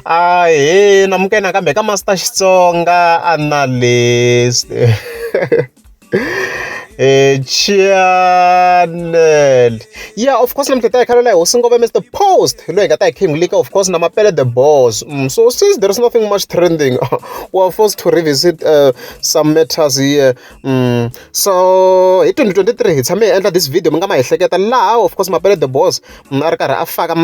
Ahee amukela nakambe ka Master Xitsonga a ni na leswi Chaanel ya of course namuntlha hi ta hi khalela hi hosi ngoma Mister Post hi loyi hi nga ta hi kha hi n'wi nyika of course na Mapele the boss so since there is nothing much trending wa forced to revisit some matters here. so hi twenty twenty three hi tshame hi endla this video mi nga ma ehleketa laha of course mapele the boss mm, a ri karhi a faka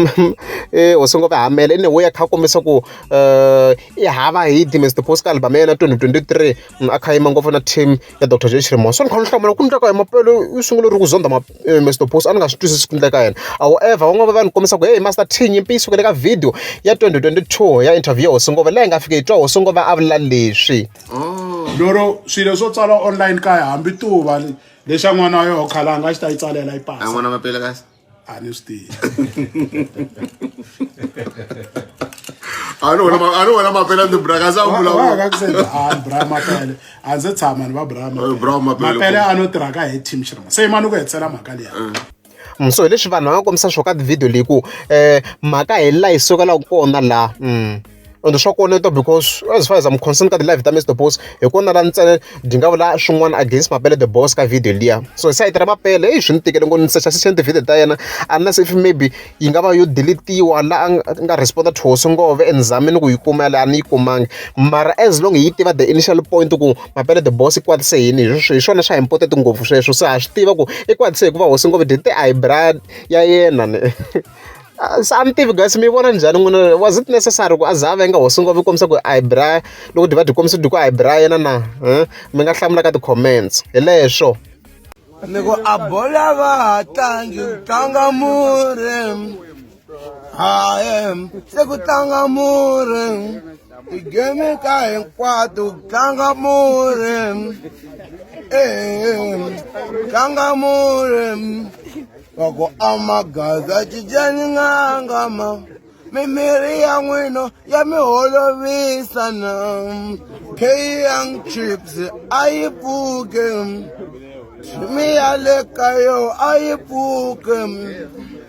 eh, hosi ngopfu hamele ene wo ya kha kombisa ku um i hava hi the mr post ka album ya yena twenty twenty three mm, a kha yima ngopfu na team ya dr j chirimo so ni kha ni hlamula ku ndleka ya mapele i sungule ri ku zonda eh, mr post a ni nga swi twisisi ku ndleka yena however van'wana va ni kombisa ku hey master t nyimpi yi sukele ka video ya twenty twenty two ya interview ya hosi ngopfu leyi nga fika yi twa hosi ngopfu a vula leswi oh. lero swilo swo tsala online kaya hambi tuva lexi a n'wana wa yoho khalanga a xi ta yi tsalela yi pasa n'wana mapela kasi a ni swi tivi ani wona mapele ndi brakaza vulavulabrmapele a ndzi tshama ni va brmapele a no tirha ka hi team xirma se yimani ku hetsela mhaka liya so hi leswi vanhu va nga kombisa swo ka tivhidiyo leyi ku um mhaka hi laha yi sukelaku kona laha um ende swa koneta because as far as am concern ka ti-live ta mr boss hi kona la ntsena byi nga vula swin'wana against mapele the boss ka video liya so sayiti ra mapele eyi swi ni tikele ngo ni secha sexeni ti-video ta yena unless if maybe yi nga va yo deletiwa la a nga responda thwoso ngove and zamini ku yi kuma yale a ni yi kumangi mara as long hi yi tiva the initial point ku mapele the boss i kwatise yini hi swona swa important ngopfu sweswo se ha swi tiva ku i kwatise hikuva hosi ngopfu dite a hi bra ya yena ni se a ni tivi guys mi vona njhani n'wina was it necessary ku a za a venga hosi ngopfu yi kombisa ku a hi bra loko dyi va dyi kombisa dyi ku a hi bra yena na mi nga hlamula ka ti-comments hi leswo ni ku a bola va ha tlangi tlanga mure Hayi, se ku tlanga murhi ti-game ta hinkwato ku tlanga murhi tlanga murhi wa ku amagaza cincani n'anga ma mimirhi ya n'wina ya mi holovisa na keyang chips a yi pfuke mi ya le ka yo a yi pfuke